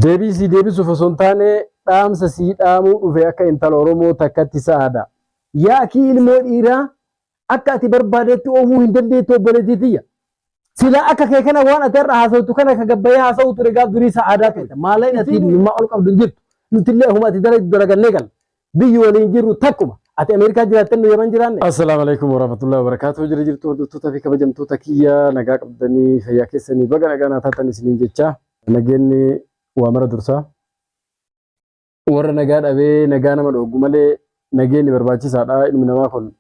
Deebii sii deebisuuf osoo hin taane dhaamsa sii dhaamuu dhufe akka intala Oromoo takkatti sa'aada. Yaa akii ilmoo dhiiraa akka ati barbaadetti oofuu hin dandeettu obboleettii tiyya. Silaa akka kee kana waan ati har'a haasawtu kana ka gabbayee haasawuu ture gaaf durii sa'aadaa ture. Maallaqa ati dhimmaa ol qabdu hin jirtu. Nutillee akkuma ati dalagdu dalagannee galla. biyyi waliin jirru takkuma. Ati Ameerikaa jiraattee nu Yaman jiraanne. Assalaamu alaikum warahmatullahi wabarakatuh. Jira jirtu hordoftoota fi kabajamtoota kiyya nagaa qabdanii fayyaa keessanii baga nagaa naa taatan isiniin jecha nageenni waa mara dursaa. Warra nagaa dhabee nagaa nama dhooggu malee nageenni barbaachisaadha ilmi namaa kun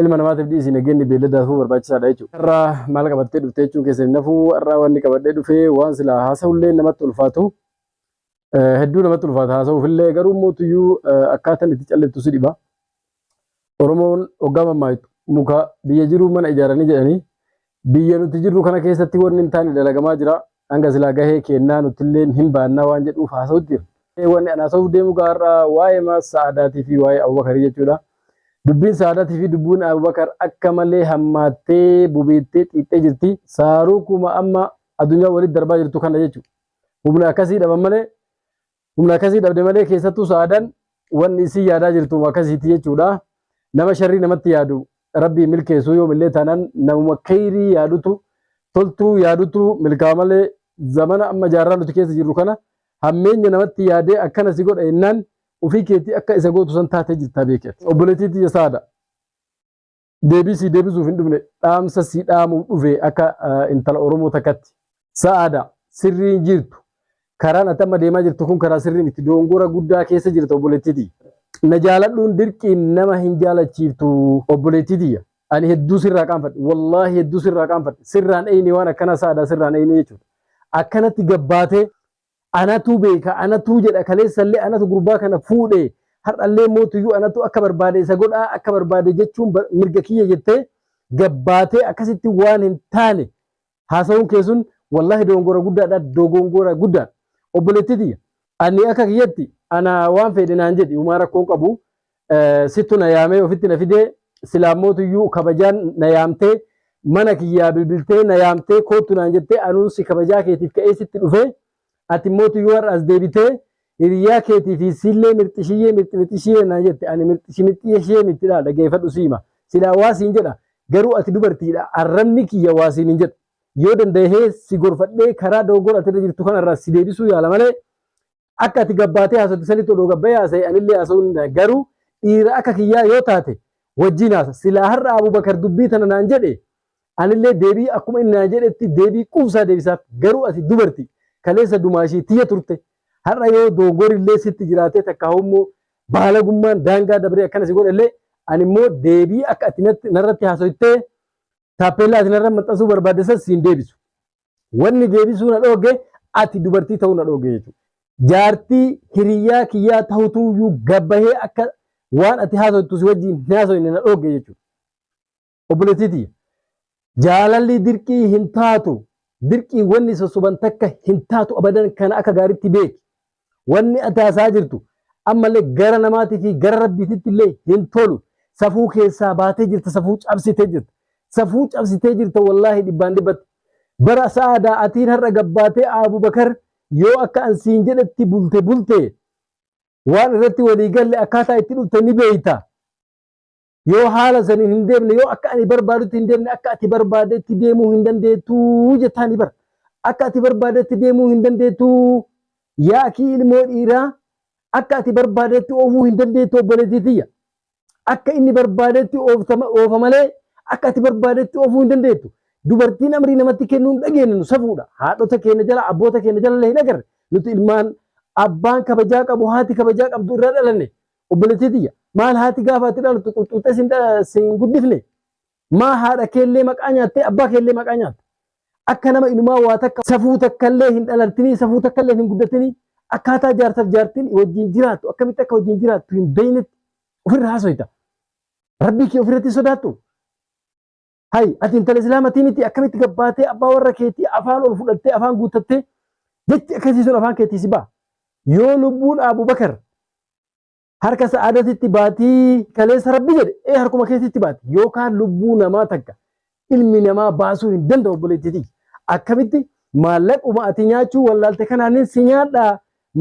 ilma namaatiif dhiisi nageenni beelladaafuu barbaachisaadha jechuudha. Har'aa maal qabattee dhuftee jechuun keessan hin hafuu har'aa wanni qabadhee dhufee waan silaa haasa'ullee namatti ulfaatu Hedduu namatti ulfaata haasa'uuf illee garuu mootuyyuu akkaataan itti calleettu si dhiba. Oromoon hoggaa mammaaktu muka biyya jiruu mana ijaaranii jedhanii biyya nuti jirru kana keessatti wanni hin taane dalagamaa jira. Hanga silaa gahee keennaa nuti illee hin baannaa waan jedhuuf haasa'utti jira. Wanni an haasa'uuf deemu gaarraa waa'ee maas sa'aadaatii fi waa'ee Abubakarii jechuudha. Dubbiin sa'aadaatii fi dubbiin Abubakar akka malee hammaattee bubeettee xiixxee jirti. Saaruu kuma amma addunyaa walitti darbaa jirtu kana jechuudha. Humna akkasii dhaban malee humna akkasii dhabde malee keessattuu sa'aadaan wanni isin yaadaa jirtu akkasiiti jechuudha. Nama sharrii namatti yaadu rabbii milkeessuu yoomillee taanaan namuma keeyrii yaadutu toltuu yaadutu milkaa malee zamana amma jaarraa nuti keessa jirru kana hammeenya namatti yaadee akkana si godha jennaan ofii keetii akka isa gootu san taatee jirta beekee. Obboleettii tiyya saada. deebii sii deebisuuf hin dhufne dhaamsa sii dhaamuuf dhufe akka intala Oromoo takkatti. Sa'aada sirrii hin jirtu. Karaan ati amma deemaa jirtu kun karaa sirrii miti. Doongora guddaa keessa jirta obboleettiti. Na jaaladhuun dirqiin nama hin jaalachiiftu obboleettiti. Ani hedduu sirraa qaanfadhe. Wallaahi hedduu sirraa qaanfadhe. Sirraan eeyne waan akkanaa sa'aadaa sirraan eeyne jechuudha. Akkanatti gabbaatee Anatu beeka, anatu jedha, kaleessallee anatu gurbaa kana fuudhe, har'allee mootuyyuu anatu akka barbaade isa godha, akka barbaade jechuun mirga kiyya jettee gabbaatee akkasitti waan hin taane haasawuun kee sun wallaahi dogongora guddaadha, dogongora guddaadha. Obboleettii tiyya ani akka kiyyatti ana waan feedhe naan jedhi humaa rakkoon qabu Eh, sittu na yaamee ofitti na fidee silaammootu iyyuu kabajaan na yaamtee mana kiyyaa bilbiltee na yaamtee koottu naan jettee anuun si kabajaa keetiif ka'ee sitti dhufee ati immootu iyyuu har'a as deebitee hiriyaa keetii fi siillee mirxishiyyee mirximixishiyyee naan jette ani mirxishimixiyeshee mitti dhaa dhageeffadhu siima silaa waa siin jedha garuu ati dubartiidha arrabni kiyya waa siin hin jedhu yoo danda'ee si gorfadhee karaa dogoggora ati irra jirtu kanarraa si deebisuu yaala malee Akka ati gabbaatee haasofte sanitti odoo gabbayee haasaye anillee haasawuu ni danda'a. Garuu dhiira akka kiyyaa yoo taate wajjiin haasa. Silaa har'a Abubakar dubbii tana naan jedhe anillee deebii akkuma inni naan jedhetti deebii quubsaa deebisaaf. Garuu ati dubarti. Kaleessa dumaashii tiyya turte. Har'a yoo doongorillee sitti jiraatee takkaahuu immoo baalagummaan daangaa dabree akkana si godhellee ani immoo deebii akka ati narratti haasoytee taappeellaa ati narra maxxansuu barbaadde san siin deebisu. Wanni deebisuu na dhoogge ati dubartii ta'uu na dhoogge jechuudha. Jaartii hiriyyaa kiyyaa tahutuyyuu gabbahee akka waan ati haasoftu si wajjin hin haasofne na dhoogge jechuudha. Obboleettii tiyya. Jaalalli dirqii hin taatu. Dirqii wanni sossoban takka hin taatu abadan kana akka gaaritti beeki. Wanni ati haasa'aa jirtu ammallee gara namaatii fi gara Rabbiititti illee hin tolu. Safuu keessaa baatee jirta, safuu cabsitee jirta. Safuu cabsitee jirta wallaahi dhibbaan dhibbatti. Bara Sa'aadaa atiin har'a gabbaatee Abubakar yoo akka an siin jedhetti bulte bulte waan irratti walii galle akkaataa itti dhufte ni beeyta. Yoo haala saniin hin deemne, yoo akka ani barbaadutti hin deemne, akka ati barbaadetti deemuu hin dandeettuu jettaani bar. Akka ati barbaadetti deemuu hin dandeettuu yaa akii ilmoo dhiiraa akka ati barbaadetti oofuu hin dandeettuu obboleettii tiyya. Akka inni barbaadetti ooftama- oofa malee akka ati barbaadetti oofuu hin dandeettu. Dubartiin amrii namatti kennuu hin dhageenye nu safuudha. Haadhota keenya jala, abboota keenya jala illee hin agarre. Nuti ilmaan abbaan kabajaa qabu, haati kabajaa qabdu irraa dhalanne. Obboleettii tiyya, maal haati gaafa ati dhalattu quxxuuxxee sin dha- sin guddifne? Maa haadha keellee maqaa nyaattee abbaa keellee maqaa nyaatta? Akka nama inumaa waa takka safuu takkallee hin dhalattinii, safuu takkallee hin guddatinii, akkaataa jaarsaf jaartiin wajjin jiraattu, akkamitti akka wajjin jiraattu hin beeynetti ofirra haasoyta. Rabbii kee ofirratti hin sodaattu? Hay ati intala islaamatii miti akkamitti gabbaatee abbaa warra keetii afaan ol fudhattee afaan guuttattee jechi akkasii sun afaan keetii si ba'a. Yoo lubbuun Abubakar harka sa'aadatitti baatii kaleessa rabbi jedhe ee harkuma keetitti baati yookaan lubbuu namaa takka ilmi namaa baasuu hin danda'u obboleettiiti. Akkamitti maallaquma ati nyaachuu wallaalte kanaanin si nyaadhaa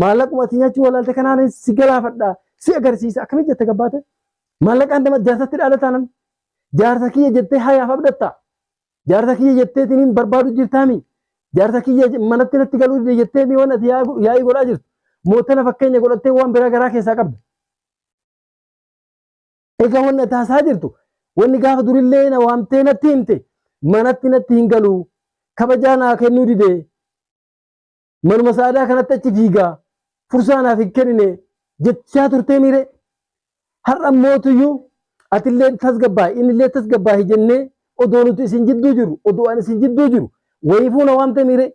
maallaquma ati nyaachuu wallaalte kanaanin si galaafadhaa si agarsiisa akkamitti jette gabbaate maallaqaan nama jaasatti dhaala taanan Jaarsa kiyya jettee hayaaf abdatta. Jaarsa kiyya jettee tiniin barbaadu jirtaami. Jaarsa kiyya manatti natti galuu dide jettee mi'oon ati yaa'ii godhaa jirtu. Mootana fakkeenya godhattee waan biraa garaa keessaa qabda. Egaa wanni ati haasaa jirtu wanni gaafa durillee na waamtee natti himte manatti natti hin galuu kabajaa naa kennuu didee manuma sa'aadaa kanatti achi fiigaa fursaa naaf hin kennine jechaa turtee miire har'a mootuyyuu atillee tasgabbaa'i innillee tasgabbaa'i jennee odoo nuti isin jidduu jiru odoo an isin jidduu jiru wayii fuuna waan ta'e miire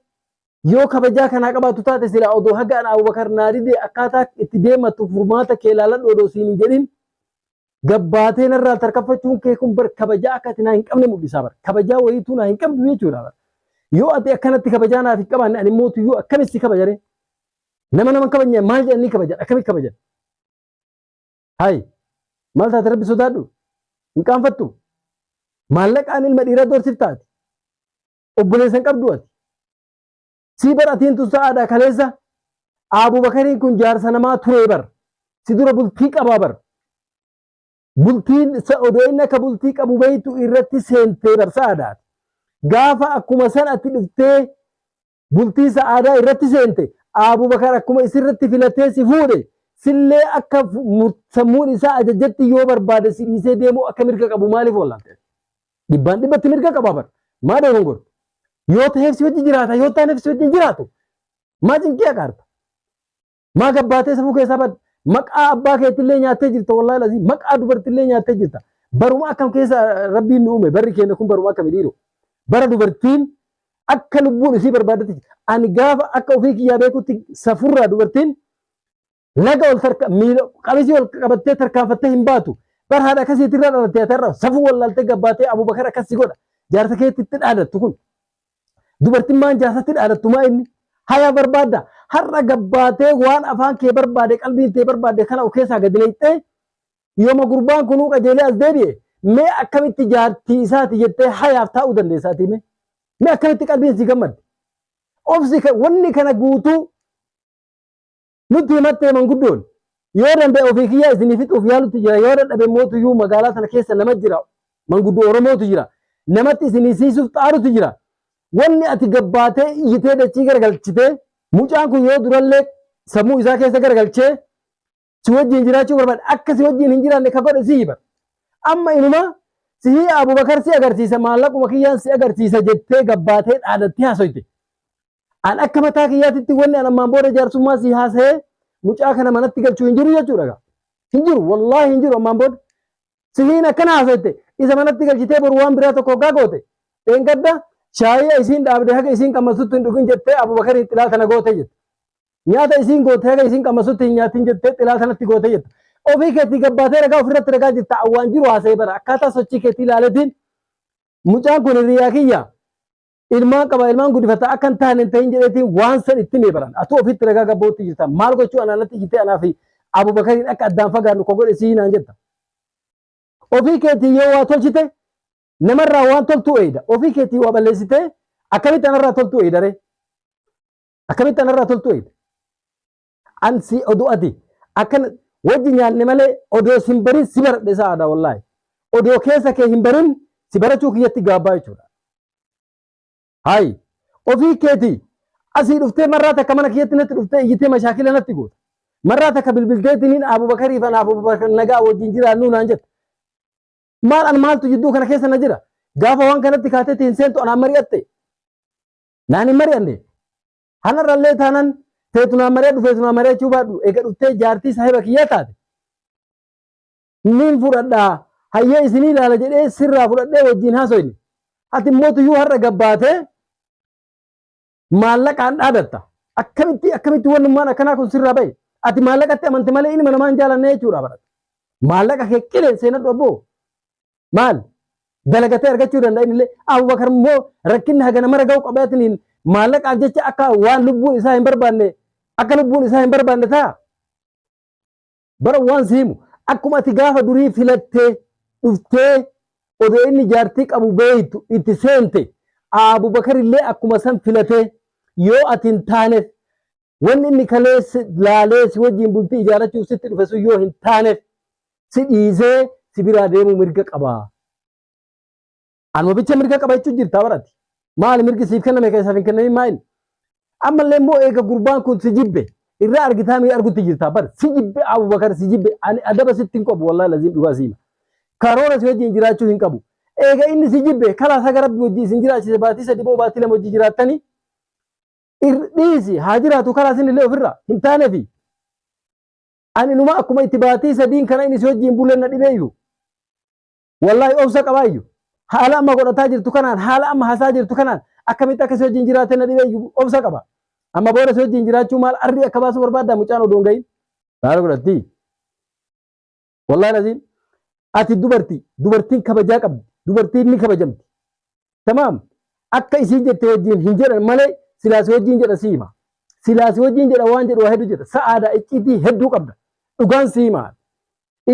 yoo kabajaa kanaa qabaattu taate silaa odoo haga an Abubakar naa didee akkaataa itti deemattu furmaata kee laaladhu odoo siin hin jedhin gabbaatee narraa tarkaffachuun kee kun bar kabajaa akka ati naa hin qabne mul'isaa bar kabajaa wayiituu naa hin qabdu jechuudha bar yoo ati akkanatti kabajaa naaf hin qabaanne ani mootu yoo akkamitti si kabajare nama nama hin kabajne maal jedhanii kabajan akkamitti kabajan hayi maal taate rabbi sodaadhu hin qaanfattu maallaqaan ilma dhiiraa doorsiftaati obboleessa hin qabdu ati Sii bar atiin tun sa'aadha kaleessa Abu Bakariin kun jaarsa namaa turee bar. Si dura bultii qabaa bar. Bultiin sa- odoo inni akka bultii qabu beektu irratti seentee bar sa'aadha. Gaafa akkuma san ati dhuftee bultii sa'aadaa irratti seente Abu Bakar akkuma isirratti filatee si fuudhe sillee akka fu- mur- sammuun isaa ajajatti yoo barbaade si dhiisee deemuu akka mirga qabu maaliif oolante? Dhibbaan dhibbatti mirga qaba bar. Maa dogongorta? Yoo ta'eef si wajjin jiraata, yoo taaneef si wajjin jiraatu. Maa cinqii akaarta? Maa gabbaatee safuu keessaa badda? Maqaa abbaa keetillee nyaattee jirta wallaahi lazii. Maqaa dubartillee nyaattee jirta. Baruma akkam keessa rabbiin nu uume barri keenya kun baruma akkami dhiiroo. Bara dubartiin akka lubbuun isii barbaadatti. Ani gaafa akka ofii kiyyaa beekutti safurraa dubartiin Laga ol tarka miila qamisii ol qabattee tarkaanfattee hin baatu. Bar haadha akkasiitti irra dhalattee ati irra safuu wallaaltee gabbaatee Abubakar akkas si godha. Jaarsa keetti itti dhaadattu kun. Dubartiin maan jaarsatti dhaadattu maa inni? Hayaa barbaadda. Har'a gabbaatee waan afaan kee barbaade qalbiin tee barbaade kana of keessaa gadi leexxee yooma gurbaan kunuu qajeelee as deebi'e mee akkamitti jaartii isaati jettee hayaaf taa'uu dandeessa ati mee? Mee akkamitti qalbiin si gammadde? Obsi wanni kana guutuu Nutti himattee manguddoon yoo danda'e ofii kiyyaa isinii fixuuf yaalutti jira yoo dadhabe mootuyyuu magaalaa sana keessa nama jira manguddoo Oromootu jira namatti isinii siisuuf xaarutu jira wanni ati gabbaatee iyyitee dachii garagalchitee mucaan kun yoo durallee sammuu isaa keessa garagalchee si wajjin jiraachuu barbaade akka si wajjin hin jiraanne ka godhe si hiba amma inuma sihii Abubakar si agarsiisa maallaquma kiyyaan si agarsiisa jettee gabbaatee dhaadattee haasoyte An akka mataa kiyyaatitti wanni an ammaan booda jaarsummaa si haasa'ee mucaa kana manatti galchuu hin jiru jechuudha gaa. Hin jiru wallaahi hin jiru ammaan booda. Sihiin akkana haasa'ette isa manatti galchitee boru waan biraa tokko hoggaa goote. Dheengadda shaayii isiin dhaabde haga isiin qammasutti hin dhugin jettee Abubakariin xilaa tana goote jette. Nyaata isiin goote haga isiin qammasutti hin nyaatin jettee xilaa tanatti goote jette. Ofii keetii gabbaatee ragaa ofirratti ragaa jirta waan jiru haasa'ee bara akkaataa sochii keetii ilaaletiin mucaan kun hiriyaa kiyya. ilmaan qaba ilmaan guddifata akka hin taane hin ta'in jedheetiin waan san itti mee baran atuu ofitti ragaa gabbootti jirta maal gochuu anaa natti jirtee anaa fi abubakariin akka addaan fagaannu ko godhe sii naan jetta ofii keetii yoo waa tolchite namarraa waan toltuu eeyda ofii keetii waa balleessitee akkamitti anarraa toltuu eeyda ree akkamitti anarraa toltuu eeyda An si odoo ati akkana wajji nyaanne malee odoo sin barin si baradhe sa'aadha wallaahi. Odoo keessa kee hin barin si barachuu kiyyatti gaabbaa jechuudha. Hayi ofii keeti asii dhuftee marraa takka mana kiyyatti natti dhuftee iyyitee mashaakila natti goota. Marraa takka bilbilteetiniin Abubakarii fi Abubakar nagaa wajjin jiraannuu naan jette. Maal an maaltu jidduu kana keessa na jira? Gaafa waan kanatti kaateetti hin seentu anaan mari'atte. Naan hin mari'anne. Hanarrallee taanan teetu naa mari'adhu feetu naa mari'achuu baadhu eega dhuftee jaartii saahiba kiyyaa taate niin fudhadhaa hayyee isinii ilaala jedhee sirraa fudhadhee wajjin haasoyne. Ati immoo tuyyuu har'a gabbaatee maallaqaan dhaadatta. Akkamitti akkamitti wannummaan akkanaa kun sirraa bahe. Ati maallaqatti amante malee ilma namaa hin jaalanne jechuudha barata. Maallaqa kee qileen seenadhu abboo. maal dalagatee argachuu danda'a inni illee Abubakar immoo rakkinni hagana mara ga'u qabaatiniin maallaqaaf jecha akka waan lubbuun isaa hin barbaanne akka lubbuun isaa hin barbaanne ta'a. Bara waan si himu akkuma ati gaafa durii filattee dhuftee odoo inni jaartii qabu beektu itti seente Abubakar illee akkuma san filatee yoo ati hin taaneef Wanni inni kaleessi laalee si wajjin bultii ijaarrachuuf sitti dhufe sun yoo hin taaneef si dhiisee si biraa deemuu mirga qaba. Anuma bicha mirga qaba jechuun jirtaa barati. Maali mirgi siif kenname keessaaf hin kennamin maa inni? Ammallee immoo eega gurbaan kun si jibbe irraa argitaa mii argutti jirtaa bar si jibbe Abubakar si jibbe ani adaba sitti hin qabu wallahi laziim dhugaa siima. Karoora si wajjin jiraachuu hin qabu. Eega inni si jibbe kalaa saga rabbi wajjin isin jiraachise baatii sadi boo baatii lama wajjin jiraattanii Ir- dhiisi haa jiraatu karaa isin illee ofirraa hin taanefi ani numa akkuma itti baatii sadiin kana inni si wajjin bulee na dhibeeyyu wallaahi obsa qabaayyu haala amma godhataa jirtu kanaan haala amma hasaa jirtu kanaan akkamitti akka si wajjin jiraate na dhibeeyyu obsa qaba amma booda si wajjin jiraachuu maal arrii akka baasuu barbaadda mucaan odoo hin gahin baala godhattii Wallahi laziim ati dubartii dubartiin kabajaa qabdi dubartiin ni kabajamti tamaam akka isiin jette wajjin hin jedhan malee silaasi wajjin jedha siima silaasi wajjin jedha waan jedhu waa hedduu jedha sa'aadaa icciitii hedduu qabda dhugaan siima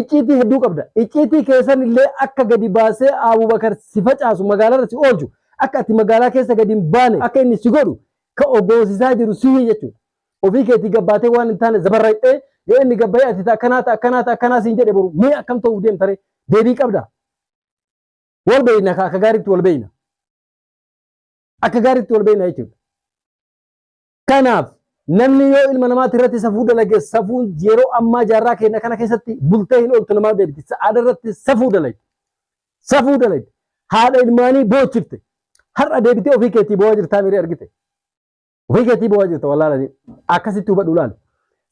icciitii hedduu qabda icciitii keessan illee akka gadi baasee Abubakar si facaasu magaalarra si oolchu akka ati magaalaa keessa gadi hin baane akka inni si godhu ka ogoosisaa jiru sihi jechuudha. Ofii keetii gabbaatee waan hin taane zabarraqxee yoo inni gabbayee ati ta akkanaa ta akkanaa ta akkanaa siin jedhe boru mee akkam ta'uuf deemta ree deebii qabda. Wal beeyna ka akka gaariitti wal beeyna. Akka gaariitti wal beeyna jechuudha. Kanaaf namni yoo ilma namaatti irratti safuu dalage safuun yeroo ammaa jaarraa keenya kana keessatti bultee hin ooltu namaaf deebiti. Sa'aada irratti safuu dalage. Safuu dalage. Haadha ilmaanii boochifte. Har'a deebitee ofii keetii boo'aa jirtaa miree argite. Ofii keetii boo'aa jirta wallaalanii akkasitti hubadhu laal.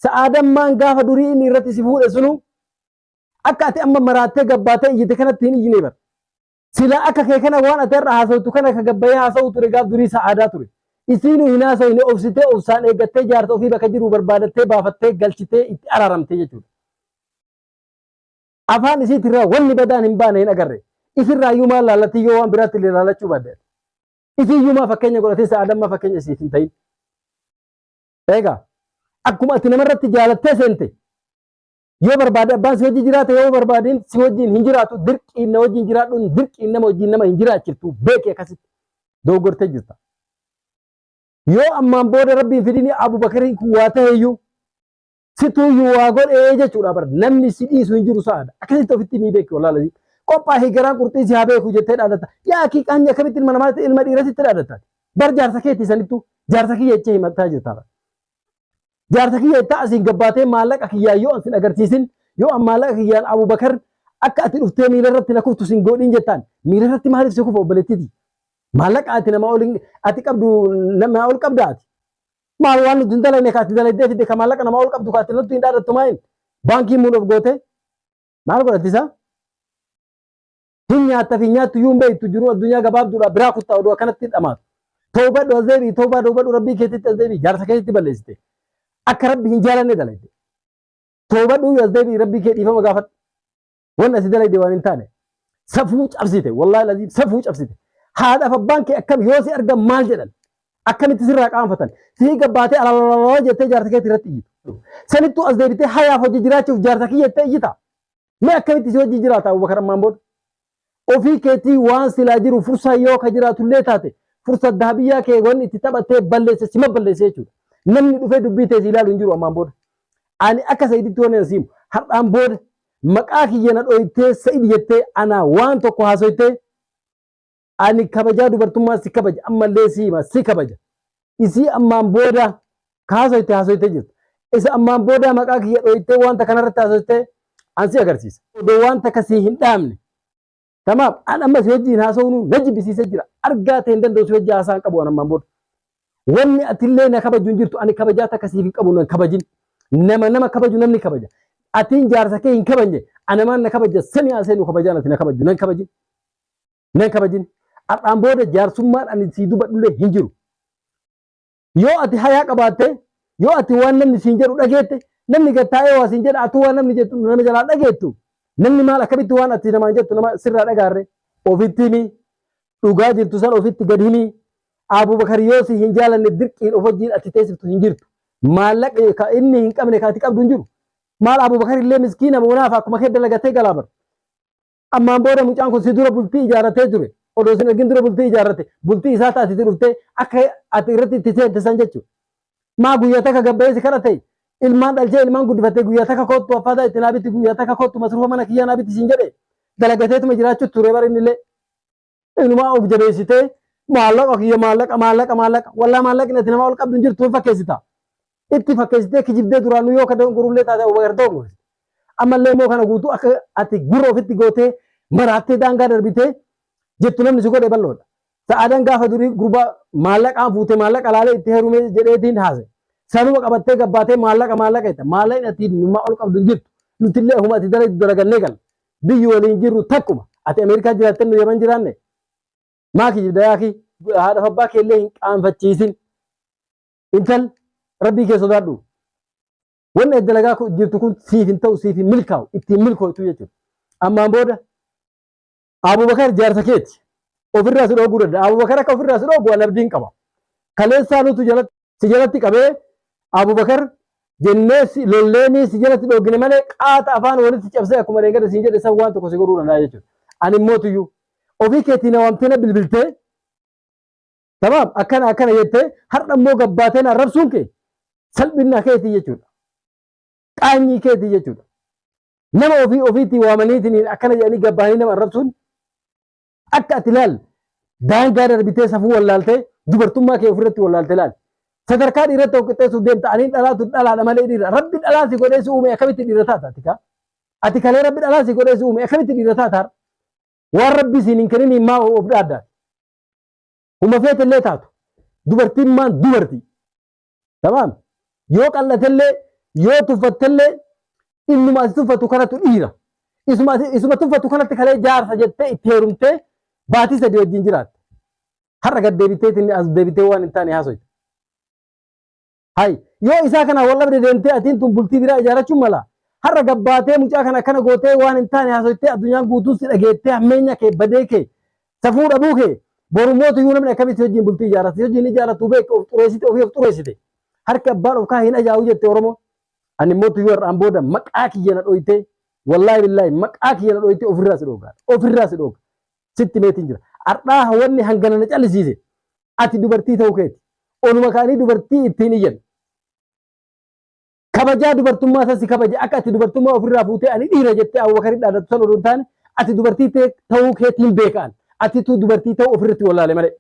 Sa'aadammaan gaafa durii inni irratti si fuudhe sunu akka ati amma maraattee gabbaattee iyyite kanatti hin iyyine bar. Silaa akka kee kana waan ati irra haasawtu kana ka gabbayee haasawuu ture gaaf durii sa'aadaa ture. Isiinuu hin haasawine obsitee obsaan eeggattee jaarsa ofii bakka jiru barbaadattee baafattee galchitee itti araaramtee jechuudha. Afaan isiitirraa wanni badaan hin baane hin agarre. Isirraayyuu maal laallattii yoo waan biraatti illee laallachuu baadde. Isiiyyumaa fakkeenya godhatin sa'a damma fakkeenya isiif hin ta'in. Eegaa akkuma ati namarratti jaalattee seente yoo barbaade abbaan si wajjin jiraate yoo barbaadeen si wajjin hin jiraatu dirqiin na wajjin jiraadhuun dirqiin nama wajjin nama hin jiraachiftu beeki akkasitti dogoggortee jirta. Yoo ammaan booda rabbiin fidini Abubakariin kun waa ta'eyyuu Situuyyuu waa godhee jechuudha bar namni si dhiisu hin jiru sa'aadha. Akkasitti ofitti ni beektu walaa lazii. Qophaa fi garaan qurxii si haa beeku jettee dhaadatta. Yaa akii qaanyi akkamitti ilma namaatti ilma dhiirratti itti dhaadatta. Bar jaarsa keetti sanittu jaarsa kiyya jechee himattaa jirta bar. Jaarsa kiyya jettaa asiin gabbaatee maallaqa kiyyaan yoo ansin agarsiisin yoo an maallaqa kiyyaan Abubakar akka ati dhuftee miila irratti na kuftu sin goodhiin jettaan miila irratti maaliif si kufa obboleettiti. Maallaqa ati namaa ol ati qabdu namaa ol qabda ati. Maal waan nuti hin dalagne kaati dalagdee fidde ka maallaqa namaa ol qabdu kaati nutti hin dhaadattu maa inni? Baankii muun of goote maal godhatti isaa? Hin nyaatta fi nyaattu iyyuu hin beektu jiru addunyaa gabaabduudha biraa kuttaa oduu akkanatti dhamaatu. Toobadhu as deebi'i toobaa toobadhu rabbii keetitti as deebi'i jaarsa keetitti balleessite. Akka rabbi hin jaalanne dalagde. Toobadhu as deebi'i rabbii kee dhiifama gaafadhu. Waan asi dalagde waan hin taane. Safuu cabsite. Wallaahi laziim safuu cabsite. Haadhaaf abbaan kee akkam yoo si argan maal jedhan? Akkamitti sirraa qaanfatan? Fiiga baatee alalalala jettee jaarsa keetti irratti iyyitu. Sanittuu as deebitee hayaaf hojii jiraachuuf jaarsa kiyya jettee iyyita. Mee akkamitti si hojii jiraata Abubakar ammaan booda? Ofii keetii waan silaa jiru fursaa yoo ka jiraatullee taate fursa dahabiyyaa kee wanni itti taphattee balleesse sima balleesse jechuudha. Namni dhufee dubbii teessi ilaalu hin jiru ammaan booda. Ani akka sayiditti waan hin siimu har'aan booda Maqaa kiyya na dhooytee Sa'id jettee anaa waan tokko haasoytee ani kabajaa dubartummaa si kabaja ammallee si hima si kabaja isii ammaan booda ka haasoyte haasoytee jirta isa ammaan boodaa maqaa kiyya dhooytee wanta kanarratti haasoytee an si agarsiisa odoo wanta ka si hin dhaamne Tamaam an amma si wajjin haasa'uun na jibbisiisee jira. Argaa ta'e hin danda'u si wajjin haasa'an qabu an ammaan booda. Wanni atillee na kabaju hin jirtu ani kabajaa takka siif hin qabu nan kabajin. Nama nama kabaju namni kabaja. Atiin jaarsa kee hin kabajne anamaan na kabaja sami haasa'e nu kabajaan ati na kabaju nan kabajin. Nan kabajin. Har'aan booda jaarsummaan ani sii dubadhullee hin jiru. Yoo ati hayaa qabaatte, yoo ati waan namni siin jedhu dhageette, namni gad taa'ee waa siin jedha, atuu waan namni jettu nama jalaa dhageettu, namni maal akkamitti waan ati namaan jettu nama sirraa dhagaarre? Ofitti himi. Dhugaa jirtu san ofitti gad himi. Abubakar yoo si hin jaalanne dirqiin of wajjin ati teessiftu hin jirtu. Maallaqa ka inni hin qabne ka ati qabdu hin jiru. Maal Abubakar illee miskiina munaaf akkuma kee dalagatee galaa bar. Ammaan booda mucaan kun si dura bultii ijaarratee ture. Odoo sin argin dura bultii ijaarrate. Bultii isaa taati itti dhuftee akka ati irratti itti seente san jechuudha. Maa guyyaa takka gabbayee si kadhate ilmaan dhalchee ilmaan guddifattee guyyaa takka koottu affaataa itti naa bitti guyyaa takka koottu masruufa mana kiyyaa naa bitti siin jedhe dalagateetuma jiraachuu ture bara innillee. inumaa of jabeessitee maallaqa kiyya maallaqa maallaqa maallaqa wallaa maallaqni ati namaa ol qabdu hin jirtu hin fakkeessita. Itti fakkeessitee kijibdee duraanuu yoo kadoon gurullee taate Abubakar ta'u gorsite. Ammallee immoo kana guutuu akka ati gurra ofitti gootee maraattee daangaa darbitee jettu namni si godhe bal'oodha. Sa'aadan gaafa durii gurbaa maallaqaan fuutee maallaqa laalee itti heerumee jedheetiin haase. Sanuma qabattee gabbaatee maallaqa maallaqa jetta. Maallaqni ati namaa ol qabdu hin jirtu. Nutillee huma ati dalagdu dalagannee galla. Biyyi waliin jirru takkuma. Ati Ameerikaa jiraattee nu Yaman jiraanne? Maa kijibda yaakii? Haadhaaf abbaa kee illee hin qaanfachiisin. Intal rabbii kee sodaadhu. Wanni ati dalagaa kun- jirtu kun siif hin ta'u siif hin milkaa'u itti hin milkootu jechuudha. Ammaan booda Abubakar jaarsa keeti. Ofirraa si dhooguu danda'a. Abubakar akka ofirraa si dhoogu an abdiin qaba. Kaleessaa nutu jalatti si jalatti qabee Abubakar jennee si lolleenii si jalatti dhoogine malee qaata afaan walitti cabsee akkuma reengada siin jedhe san waan tokko si godhuu danda'a jechuudha. Ani immoo tuyyuu ofii keetii na waamtee na bilbiltee tamaam akkana akkana jettee har'a immoo gabbaatee na arrabsuun kee salphina keetii jechuudha. Qaanyii keetii jechuudha. Nama ofii ofiitii waamaniitiin akkana jedhanii gabbaanii nama arrabsuun Akka ati laal daangaa darbitee safuu wallaaltee dubartummaa kee ofirratti wallaaltee laal. Sadarkaa dhiirratti tokko qixxeessuuf deemta aniin dhalaatu dhalaadha malee dhiira. Rabbi dhalaa si godhee si uume akkamitti dhiira taata ati kaa? Ati kalee rabbi dhalaa si godhee si uume akkamitti dhiira taata har'a? Waan rabbi siin hin keniniin maa of dhaaddaa? Huma feetellee taatu. Dubartiin maan dubartii? Tamaam. Yoo qal'atellee yoo tuffattellee innuma ati tuffatu kanatu dhiira. Isuma ati- isuma tuffatu kanatti kalee jaarsa jettee itti heerumtee baatii sadii wajjin jiraatte. Har'a gad deebitee tinni as deebitee waan hin taane haasoyte. Hay yoo isaa kana wal dhabde deemtee atiin tun bultii biraa ijaarachuun mala. Har'a gabbaatee mucaa kana akkana gootee waan hin taane haasoytee addunyaan guutuun si dhageettee hammeenya kee badee kee Safuu dhabuu kee boru mootu iyyuu namni akkamitti hojiin bultii ijaarrata si hojiin ijaarratu beektu of xureessite ofii of xureessite harki abbaan of kaa hin ajaa'u jette Oromoo. Ani mootu iyyuu har'aan booda maqaa kiyya na dhooytee wallaahi billaahi maqaa kiyya na dhooytee ofirraa si dhoogaa ofirraa si dhooga sitti meetiin jira. Har'aa wanni hangana na callisiise ati dubartii ta'uu keeti. Oluma kaanii dubartii ittiin iyyan. kabajaa dubartummaa san si kabaje akka ati dubartummaa ofirraa fuutee ani dhiira jettee Abubakar dhaadatu san odoo hin taane ati dubartii ta'e- ta'uu keetiin beekaan atitu dubartii ta'uu ofirratti wallaale malee.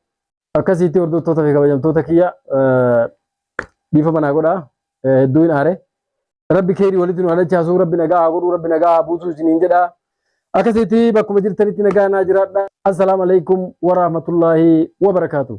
Akkasitti hordoftoota fi kabajamtoota kiyya eh, dhiifama naa godhaa eh, hedduu hin aare. Rabbi keerii walitti nu halachaasuu rabbi nagaa haa godhuu rabbi nagaa haa buusuu isiniin jedhaa. Akkasitti bakkuma jirtanitti nagaa naa jiraadha. Assalaamu alaikum wa rahmatullaahi wa barakaatuh.